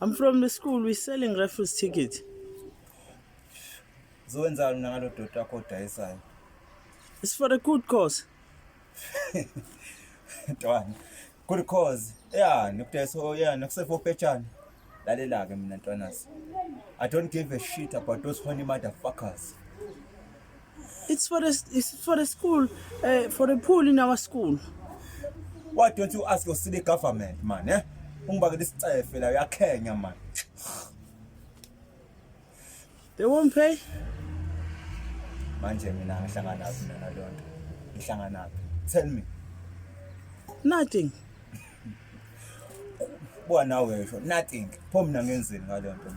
I'm from the school we selling raffles ticket. Zowenzani mina ngalo doti wakho odayisayo? It's for a good cause. Ntwana. Good cause. Yeah, nikudayisa oh, yeah, nikusefo petshana. Lalela ke mina ntwanasi. I don't give a shit about those horny motherfuckers. It's for the it's for the school uh, for the pool in our school. Why don't you ask your city government man eh? Ungibakela isicefe la uyakhenya man. They won't pay. Manje mina ngihlangana naphi mina lonto? Ngihlangana naphi? Tell me. Nothing. Buka nawe sho nothing. Pho mina ngenzeni ngalento?